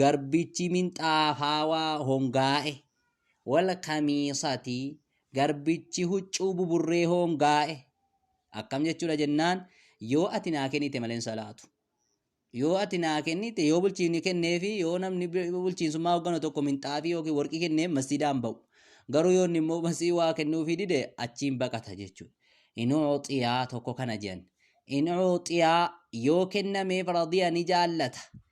Garbichi minxaafaawaa hongaa'e. Wal kamiisati garbichi huccuu buburree hoongaa'e. Akkam jechuudha jennaan yoo ati naa kennite malee hin salaatu. Yoo ati naa kennite yoo bulchiinni kenneefi yoo namni bulchiinsummaa hoogganu tokko minxaafii yookiin warqii kenneef masjiidaan ba'u. Garuu yoo inni immoo masii waa kennuufii dide achiin baqata jechuudha. In uuxiyaa tokko kana jedhan. In uuxiyaa yoo kennameef radiya ni jaallata.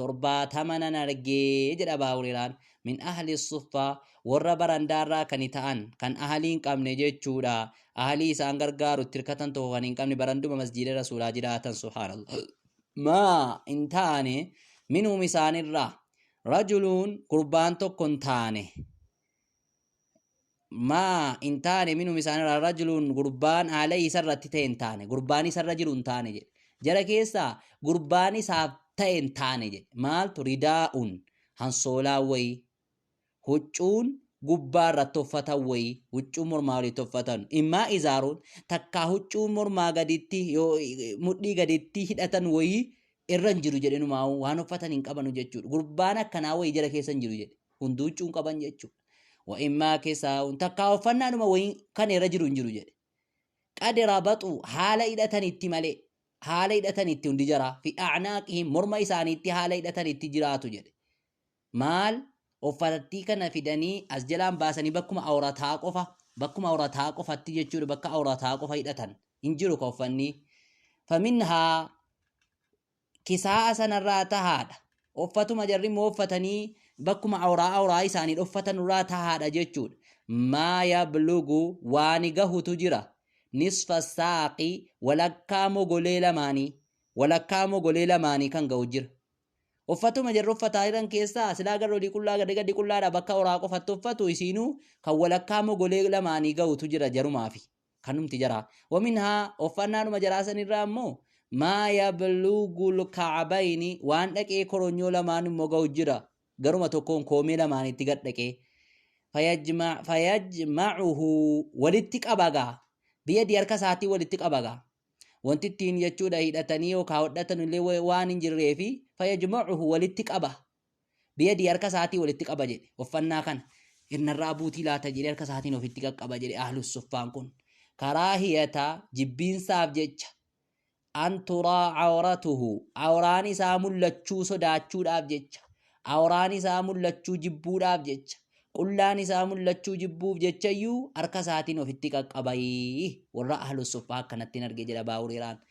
torbaatama nan argee jedha abaa hureeraan min ahli suffaa warra barandaarraa kani ta'an kan ahalii hin qabne jechuudha ahalii isaan gargaaru itti hirkatan tokko kan hin qabne baranduma masjiida rasuulaa jiraatan subhaanallah maa hin taane minhum isaanirraa rajuluun gurbaan tokko hin taane maa hin taane minum isaanirraa rajuluun gurbaan alayhi isarratti ta'e hin taane gurbaan isarra jiru hin taane jedhe jara keessaa gurbaan isaaf ta'e hin taane jedhe maaltu ridaa'un hansoolaa wayii huccuun gubbaa irratti uffatan wayii huccuun mormaa walitti uffatan immaa izaaruun takkaa huccuun mormaa gaditti yoo mudhii gaditti hidhatan wayii irra hin jiru jedhenumaa waan uffatan hin qabanu jechuudha gurbaan akkanaa wayii jara keessa hin jiru jedhe hunduu huccuu hin qaban jechuudha. Wa'immaa kisaa'uun takkaa uffannaanuma wayii kan irra jiru hin jiru jedhe. Qadi rabaxuu haala hidhatanitti malee haala hidhatanitti hundi jaraa fi a'naaqihim morma isaaniitti haala hidhatanitti jiraatu jedhe. Maal uffatattii kana fidanii as jalaan baasanii bakkuma awrataa qofa bakkuma awrataa qofatti jechuudha bakka awrataa qofa hidhatan hin jiru ka uffannii. Faminhaa kisaa'a sanarraa tahaadha. Offatuma jarri immoo offatanii bakkuma awraa awraa isaanii dhoffatanurraa tahaadha jechuudha. Maa yablugu waani gahutu jira. Nisfa saaqi walakkaa mogolee lamaanii. Walakkaa mogolee lamaanii kan gahu jira. Offatuma jarri offataa jiran keessaa silaa garri olii qullaa gadi gadi qullaadha bakka awraa qofatti offatu isiinuu kan walakkaa mogolee lamaanii gahutu jira jarumaafi. kanumti jaraa waminhaa offannaadhuma jaraa sanirraa immoo maa yabluugul ka'abayni waan dhaqee koronyoo lamaan immoo ga'u jira garuma tokkoon koomee lamaanitti gad dhaqee fayajma- fayajmacuhu walitti qabagaa biyadii harka isaatii walitti qabagaa wanti ittiin jechuudha hidhatanii yookaan hodhatan illee wa- waan hin jirree fi fayajmacuhu walitti qaba Biyadii harka isaatii walitti qaba jedhe uffannaa kana irnarraa buutii laata jedhee harka isaatiin ofitti qaqqaba jedhe ahlus suffaan kun karaa hiyata jibbiinsaaf jecha an turaa awratuhu awraan isaa mul'achuu sodaachuudhaaf jecha awraan isaa mul'achuu jibbuudhaaf jecha qullaan isaa mul'achuu jibbuuf jechayyuu harka isaatiin ofitti qaqqabayii warra ahlus suffaa akkanattiin arge jedha baahureeraan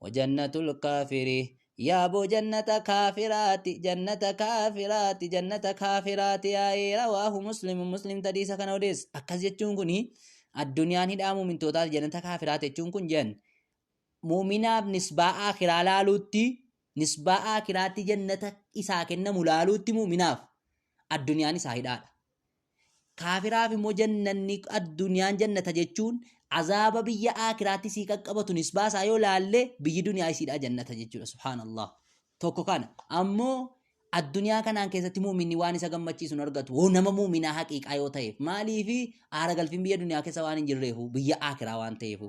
Wajannatul kaafiri Yaaboo jannata kaafiraati jannata kaafiraati jannata kaafiraati yaa'ee rawaahu muslimu muslimtu hadiisa kana odeessa akkas jechuun kun addunyaan hidhaa muumintootaati jannata kaafiraati jechuun kun jan muuminaaf nisbaa aakiraa laaluutti nisbaa aakiraatti jannata isaa kennamu laaluutti muuminaaf addunyaan isaa hidhaadha Kaafiraaf immoo jannanni addunyaan jannata jechuun azaaba biyya aakiraatti sii qaqqabatu nisbaa isaa yoo laalle biyyi duniyaa isiidhaa jannata jechuudha subhaanallah tokko kana ammoo addunyaa kanaan keessatti muuminni waan isa gammachiisu hin argatu hoo nama muuminaa haqiiqaa yoo ta'eef maaliifi aara galfiin biyya duniyaa keessa waan hin jirreefu biyya aakiraa waan ta'eefu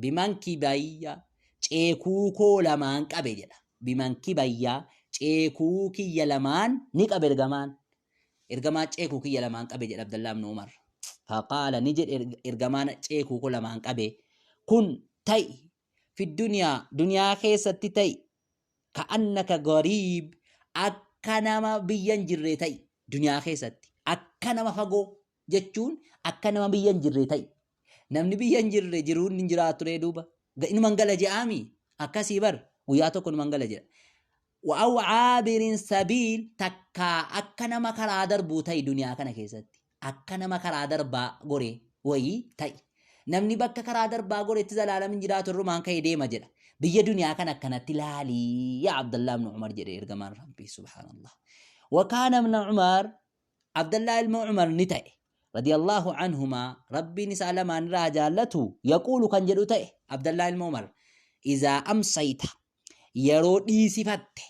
Bimankii bayya ceekuu koo lamaan qabe jedha. Bimankii bayya ceekuu kiyya lamaan ni qabe ergamaan. Ergamaan ceekuu kiyya lamaan qabe jedha Abdallaa ibn Umar. Faqaala ni jedhe ergamaan ceekuu koo lamaan qabe. Kun ta'i fi duniyaa duniyaa keessatti ta'i ka annaka gariib akka nama biyya hin jirree ta'i duniyaa keessatti akka nama fagoo jechuun akka nama biyya hin jirree ta'i. Namni biyya hin jirre jiruun hin jiraatu ree duuba. Ga- Inuman gala je'aami. Akkasii bar guyyaa tokko inuman gala jedha. Wa'aw aabirin sabiil takkaa akka nama karaa darbuu ta'i duniyaa kana keessatti. Akka nama karaa darbaa gore wayii ta'i. Namni bakka karaa darbaa goretti zalaalam hin jiraatu irrumaan ka'e deema jedha. Biyya duniyaa kana akkanatti laalii yaa Abdallaa ibn Umar jedhe ergamaan Rabbii subhaanallah. Wakaana ibn Umar Abdallaa ilma Umar ni ta'e. Radiyallaahu anhumaa Rabbiin isaa lamaan irraa haa jaallatu yaquulu kan jedhu ta'e Abdallaa ilma Umar izaa amsayta yeroo dhiisifatte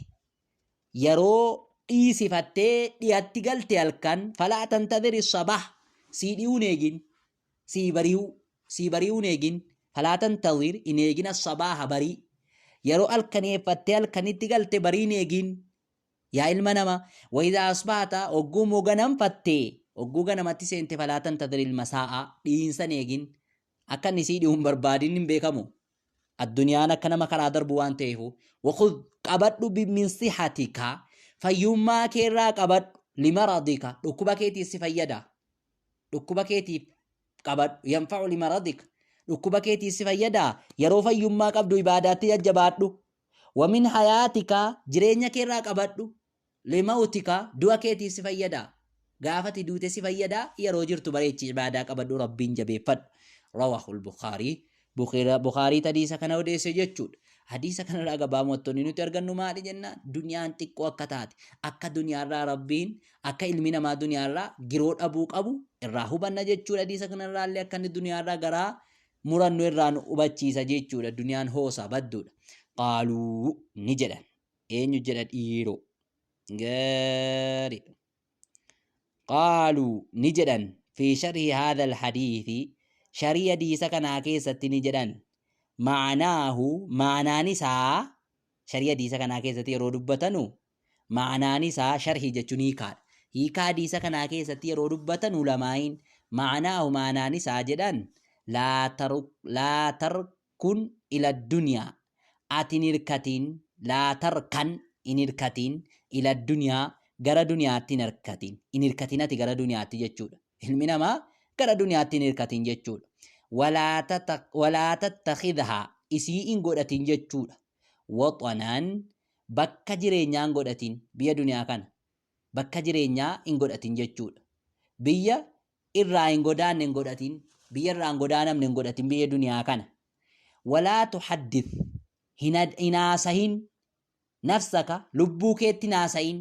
yeroo dhiisifattee dhiyatti galte halkan falaa tantadhiri sabah sii dhiyuun eegin sii bari'uu sii bari'uun eegin falaa tantadhir hin eegin assabaha barii yeroo halkaneeffattee halkanitti galte bariin eegin Yaa ilma namaa, wa'idaa asbahata, ogguu immoo ganamfatte, ogguu ganamatti seente falaa tantadhiril masaa'a, dhiinsa hin eegin. Akka inni sii dhihu hin barbaadin hin beekamu. Addunyaan akka nama karaa darbu waan ta'eefuu. Wakhudh qabadhu bi min sihatika, fayyummaa kee irraa qabadhu, li maradika, dhukkuba keetiif si fayyada. Dhukkuba keetiif qabadhu, yanfa'u li maradika, dhukkuba keetiif si fayyada. Yeroo fayyummaa qabdu ibaadaatti jajjabaadhu, Wa min hayaatika, jireenya kee irraa qabadhu, li mawtika, du'a keetiif si fayyada. Gaafa ati duute si fayyada, yeroo jirtu bareechi ibaadaa qabadhu, Rabbiin jabeeffadhu. Rawaahul Bukhaari, Bukhiira- Bukhaariit hadiisa kana odeesse jechuudha. Hadiisa kana irraa gabaa mottonni nuti argannu maali jennaan? Duniyaan xiqqoo akka taate, akka duniyaa irraa Rabbiin, akka ilmi namaa duniyaa irraa giroo dhabuu qabu irraa hubanna jechuudha. Hadiisa kana irraa illee akka inni duniyaa irraa garaa murannu irraa nu hubachiisa jechuudha duniyaan hoosa badduudha qaaluu ni jedhan eenyu jedha dhiiroo gaariidha qaaluu ni jedhan fi sharhi haadha alhadiithi sharii hadiisa kanaa keessatti ni jedhan maanaahu maanaan isaa sharii hadiisa kanaa keessatti yeroo dubbatanu Ma'anaan isaa sharhii jechuun hiikaadha. Hiikaa hadiisa kanaa keessatti yeroo dubbatan ulamaa'iin ma'anaahu ma'anaan isaa jedhan laa taruk laa tarkun ila duniyaa ati hin hirkatiin laa tarkan hin hirkatiin ila duniyaa gara duniyaatti hin hirkatiin hin hirkatiin ati gara duniyaatti jechuudha. Ilmi namaa gara duniyaatti hin hirkatiin jechuudha. Walaa tata- walaa tattakhidhaa isii hin godhatiin jechuudha. Waxanaan Bakka jireenyaa hin godhatin, biyya duniyaa kana bakka jireenyaa hin godhatin jechuudha. Biyya irraa hin godaanne hin godhatin, biyya irraa hin godaanamne hin godhatin biyya duniyaa kana. Walaa tuhaddith, hin haasahin, nafsaka, lubbuu keetti hin haasahin,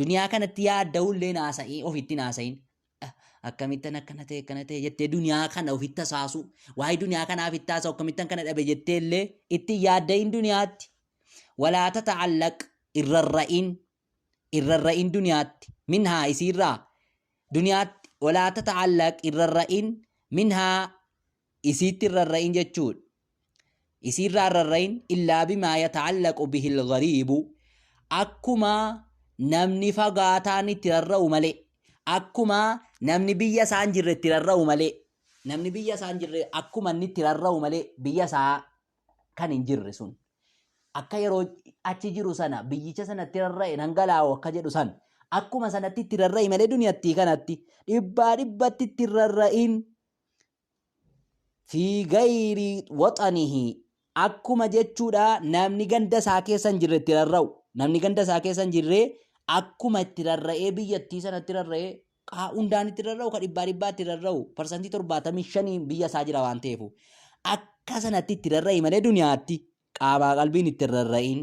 Duniyaa kanatti yaadda'uu illee naasa'ii ofitti naasa'iin. Akkamittan akkana ta'e akkana ta'e jettee duniyaa kana ofitti hasaasuu waa'ee duniyaa kanaaf itti haasa'u akkamittan kana dhabe jettee illee itti yaadda'iin duniyaatti. Walaata ta'allaq irrarra'iin irrarra'iin duniyaatti minhaa isiirraa duniyaatti walaata ta'allaq irrarra'iin minhaa isiitti hin rarra'in jechuudha. Isiirraa hin rarra'in illaa bimaa yata'allaqu bihil ghariibu akkuma namni fagaataan itti rarra'u malee akkuma namni biyya isaa hin jirre itti rarra'u malee namni biyya isaa hin jirre akkuma inni itti rarra'u malee biyya isaa kan hin jirre sun akka yeroo achi jiru sana biyyicha sanatti rarra'e nan galaa'u akka jedhu san akkuma sanatti itti rarra'i malee duniyattii kanatti dhibbaa dhibbatti itti rarra'in fi gayri waxanihi akkuma jechuudha namni ganda isaa keessa hin jirre itti rarra'u namni ganda isaa keessa hin jirre akkuma itti rarra'ee biyyattii sanatti rarra'ee kaa hundaan itti rarra'u ka dhibbaa dhibbaa itti rarra'u parsantii torbaatamii shaniin biyya isaa jira waan ta'eefu akka sanatti itti rarra'e malee duniyaatti qaamaa qalbiin itti rarra'iin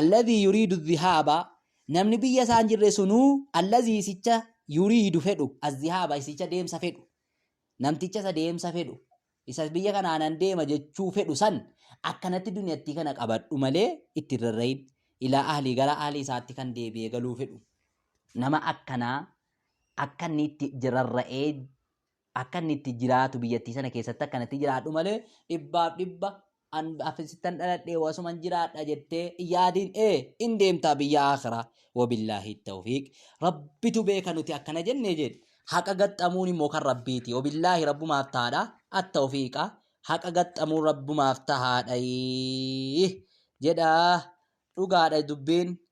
Alladhii yuriidu dhihaaba Namni biyya isaa hin jirre sunuu alladhii isicha yuriidu fedhu adhihaaba isicha deemsa fedhu namticha isa deemsa fedhu isa biyya kanaa nan deema jechuu fedhu san akkanatti duniyattii kana qabadhu malee itti hin rarra'in ilaa ahlii gara ahlii isaatti kan deebi'ee galuu fedhu nama akkanaa akka inni itti rarra'ee Akka inni itti jiraatu biyyattii sana keessatti akka itti jiraadhu malee dhibbaaf dhibba an afisittan dhaladhee wasuman jiraadha jettee yaadiin ee in deemtaa biyya aakiraa wabillaahi tawfiiq rabbitu beeka nuti akkana jennee jedhe haqa gaxxamuun immoo kan rabbiiti wabillaahi rabbumaaf taadha attawfiiqa haqa gaxxamuun rabbumaaf tahaadha jedha dhugaadha dubbiin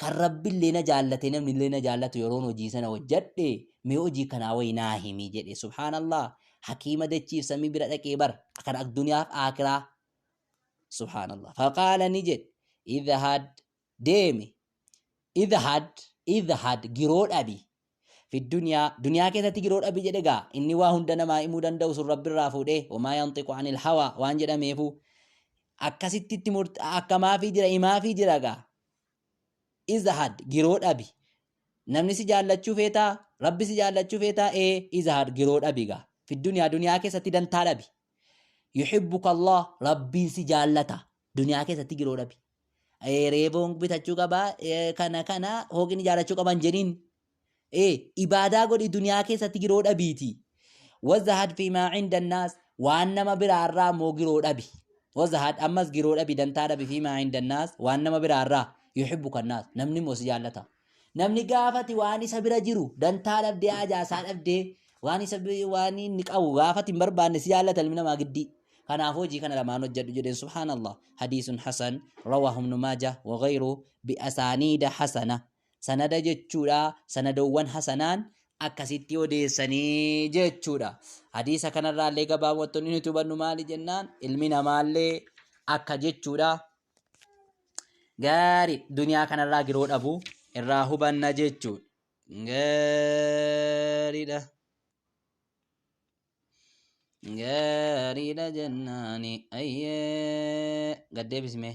Kan Rabbillee na jaallatee namnillee na jaallatu yeroon hojii sana hojjadhe mee hojii kanaa wayi naa himi jedhe. Subhaanallah! Hakiima dachiif samii bira dhaqee bar. Kan akduniyaaf aakiraa. Subhaanallah! Faqaala ni jedhe idhahad deemi idhahad idhahad giroo dhabi fidduniyaa duniyaa keessatti giroo dhabi jedhe gaa inni waa hunda namaa himuu danda'u sun rabbi irraa fuudhee wamaa yanxiqu anil hawaa waan jedhameefu akkasitti itti murta akkamaafii jira himaafii jira gaa izahad giroo dhabi namni si jaallachuu feetaa rabbi si jaallachuu feetaa ee izahad giroo dhabi gaa fidduniyaa duniyaa keessatti dantaa dhabi yuhibbuka allah rabbiin si jaallata duniyaa keessatti giroo dhabi Eh, reeboon bitachuu qaba eh, kana kana hooqin ijaarachuu qaban jedhin eh, ibaadaa godhi duniyaa keessatti giroo dhabiiti wazahad fi maa cinda annaas waan nama biraarraa immoo giroo dhabi wazahad ammas giroo dhabi dantaa dhabi fi maa cinda annaas waan nama biraarraa yuhibbu kannaas namni immoo si jaallata Namni gaafati waan isa bira jiru dantaa dhabdee haajaa isaa dhabdee waan isa bi- waan inni qabu gaafati hin barbaanne si jaallata ilmi namaa giddii. Kanaaf hojii kana lamaan hojjedhu jedheen subhaanallah. Hadiisun hasan rawaahu ibnu maaja wa ghayru bi asaaniida hasana. Sanada jechuudha sanadoowwan hasanaan akkasitti odeessanii jechuudha. Hadiisa kanarraallee gabaabumatti wanti nuti hubannu maali jennaan ilmi namaallee akka jechuudha. Gaarii duniyaa kanarraa giroo dhabu irraa hubanna jechuudha. Gaariidha. Gaariidha jennaani ayyee gaddeebismee.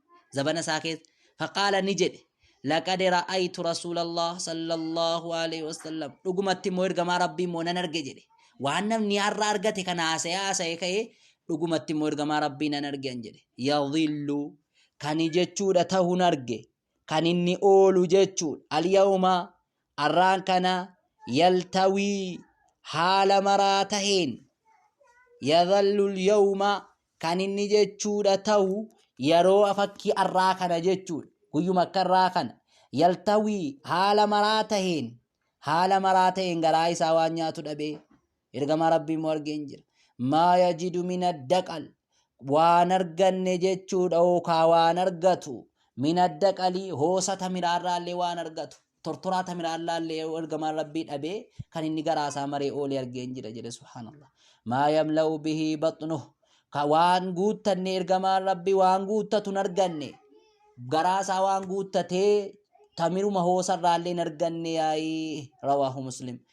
zabana isaa keessa faqaala ni jedhe laqad ra'aytu rasuulallah sallallahu alaihi wasallam dhugumatti immoo ergamaa rabbii immoo nan arge jedhe waan namni har'a argate kana haasa'ee haasa'ee ka'ee dhugumatti immoo ergamaa rabbii nan arge an jedhe yadhillu kani jechuudha tahun arge kan inni oolu jechuudha alyawma Arraan kana yaltawii haala maraa taheen yadhallul yawma kan inni jechuudha tahu yeroo fakkii arraa kana jechuudha guyyuma akka irraa kana yaltawii haala maraa taheen haala maraa taheen garaa isaa waan nyaatu dhabee Ergamaa Rabbii immoo argeen jira. Maa yajidu min addaqal. Waan arganne jechuudha yookaa waan argatu. Min addaqalii hoosa tamiraarraallee waan argatu. Tortoraa tamiraarraallee yoo ergamaan Rabbii dhabee kan inni garaasaa maree oolee argeen jira jedhe subhaanallah. Maa yamla'u bihii baxnuhu. Ka waan guuttanne ergamaan Rabbii waan guuttatu hin arganne. Garaasaa waan guuttatee tamiruma hoosarraallee hin arganne yaa'ii rawaahu muslim.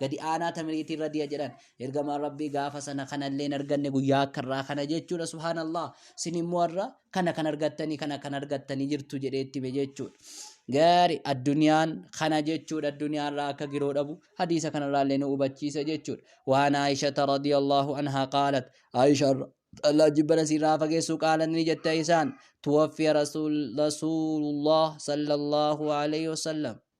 gadi aanaa tamiriitii irra diya jedhan ergamaan rabbii gaafa sana kanallee hin arganne guyyaa akka irraa kana jechuudha subhaanallah sin immoo irra kana kan argattanii kana kan argattanii jirtu jedhee itti hime jechuudha. Gaari addunyaan kana jechuudha addunyaa irraa akka giroo dhabu hadiisa kanarraa illee nu hubachiisa jechuudha. Waan Aayishata radiyallahu anhaa qaalat Aayisha Allah jibbana sirraa fageessu qaalan ni jette isaan tuwaffiya rasuulullah sallallahu alaihi wasallam.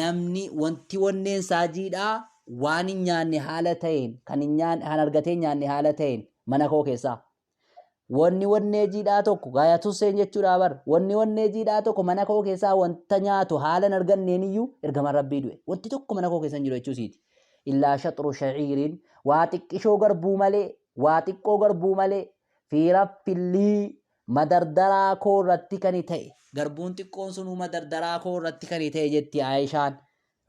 namni wanti wonneen isaa jiidhaa waan hin nyaanne haala ta'een kan hin nyaanne kan argatee hin nyaanne haala ta'een mana koo keessaa wanni wonnee jiidhaa tokko gaaya tusseen jechuudha bar wanni wonnee jiidhaa tokko mana koo keessaa wanta nyaatu haala hin arganneen iyyuu ergama rabbii du'e wanti tokko mana koo keessa hin jiru jechuu isiiti illaa shaxru shaciiriin waa xiqqishoo garbuu malee waa xiqqoo garbuu malee fi raffillii Madardaraa koo irratti kani ta'e. Garbuun xiqqoon sunuu madardaraa koo irratti kani ta'e jetti Aayishaan.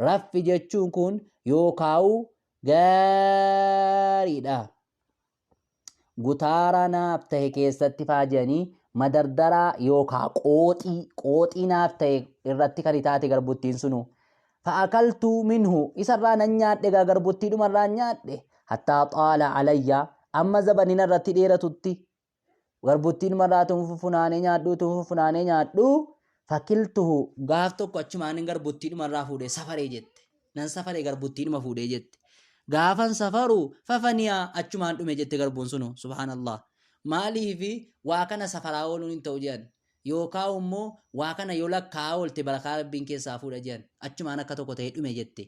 Raffi jechuun kun yoo kaa'u gaariidha. Gutaara naaf ta'e keessatti faajanii madardaraa yookaa qooxii qooxii naaf ta'e irratti kan taate garbuttiin sunu fa'akaltuu minhu isarraa nan nyaadhe gaa garbuttii dhumarraa nyaadhe hattaa xaala alayya amma zabanina irratti dheeratutti Garbuttiin marraa tun fufunaanee nyaadhuu tun fufunaanee nyaadhuu fakiltuhu. Gaaf tokko achumaanin garbuttiidhuma irraa fuudhee safaree jette. Nan safaree garbuttiidhuma fuudhee jette. Gaafan safaru fafaniyaa achumaan dhume jette garbuun sunu subhaanallah. Maaliifi waa kana safaraa ooluun hin ta'u jedhan. Yookaa immoo waa kana yoo lakkaa'aa oolte barakaa rabbiin keessaa fuudha jedhan. Achumaan akka tokko ta'ee dhume jette.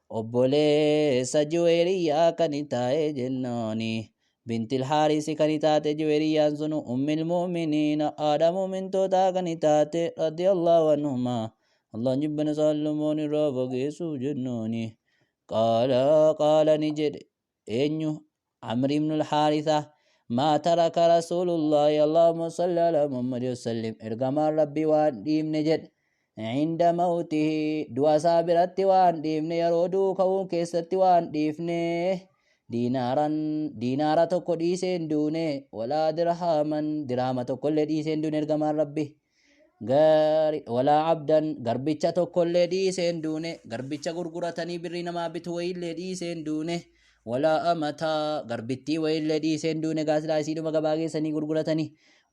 Obboleessa Juweeriyyaa kan taa'e jennaani. Bintil Haarisi kan taate Juweeriyyaan sun Ummil Mu'miniina haadha mu'mintootaa kan taate radiyallahu anhumaa. Allaan jibbina isaan lamaan irraa fageessuuf jennaani. Qaala qaala ni jedhe. Eenyu? Amr ibn al-Haarisa. Maa taraka Rasuulullaahi Allaahumma salli alaa Muhammad wasallim ergamaan Rabbii waan dhiifne jedhe. Cinda mawtihi du'a isaa biratti waan dhiifne yeroo du'u ka'uun keessatti waan dhiifne. Diinaaran diinaara tokko dhiisee hin duune walaa dirhaaman dirhaama tokkollee dhiisee hin duune ergamaan Rabbii. gaari walaa abdan garbicha tokkollee dhiisee hin duune garbicha gurguratanii birrii namaa bitu wayiillee dhiisee hin duune walaa amataa garbittii wayiillee dhiisee hin duune gaasilaa isiidhuma gabaa geessanii gurguratanii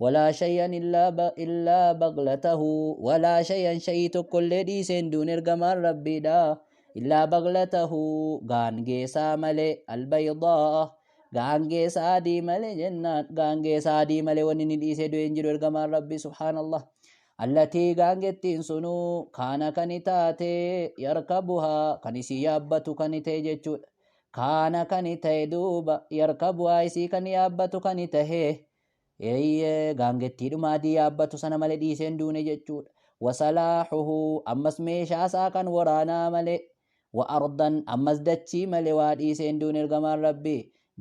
walaa shayyan illaa ba- illaa baqlatahu walaa shayyan shayii tokkollee dhiisee hin duune ergamaan rabbiidha illaa baqlatahu gaangeesaa malee albaydaa Gaangee saadii malee jennaan gaangee saadii malee wanni ni dhiisee du'e hin jiru ergamaan rabbii subhaanallah. Allatii gaangettiin sunuu kaana kani taate yarkabuhaa kan isii yaabbatu kani ta'e jechuudha. Kaana kani ta'e duuba yarkabuhaa isii kan yaabbatu kani ta'e Eeyyee, gaangettiidhuma adii yaabbatu sana malee dhiisee hin duune jechuudha. Wasalaahuhu, ammas meeshaa isaa kan waraanaa malee. Wa ardan, ammas dachii malee waa dhiisee hin duune ergamaan Rabbii.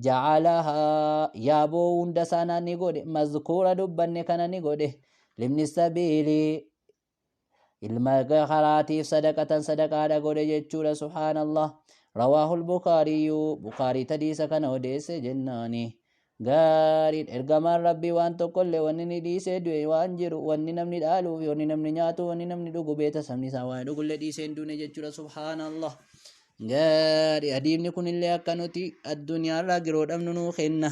Jacalahaa, yaaboo hunda sana ni godhe, mazkuura dubbanne kana ni godhe. Libni sabiili, ilma karaatiif sadaqatan sadaqaadha godhe jechuudha subhaanallah rawaahu lbukaariyyu bukaarii tadiisa kana odeesse jennaani gaariin ergamaan rabbii waan tokkollee wanni ni dhiisee du'e waan jiru wanni namni dhaaluu fi wanni namni nyaatu wanni namni dhugu beeta sabni isaa waan dhugullee dhiisee hin duune jechuudha subhaanallah gaari adiibni kunillee akka nuti addunyaarraa giroo dhabnu nuu kenna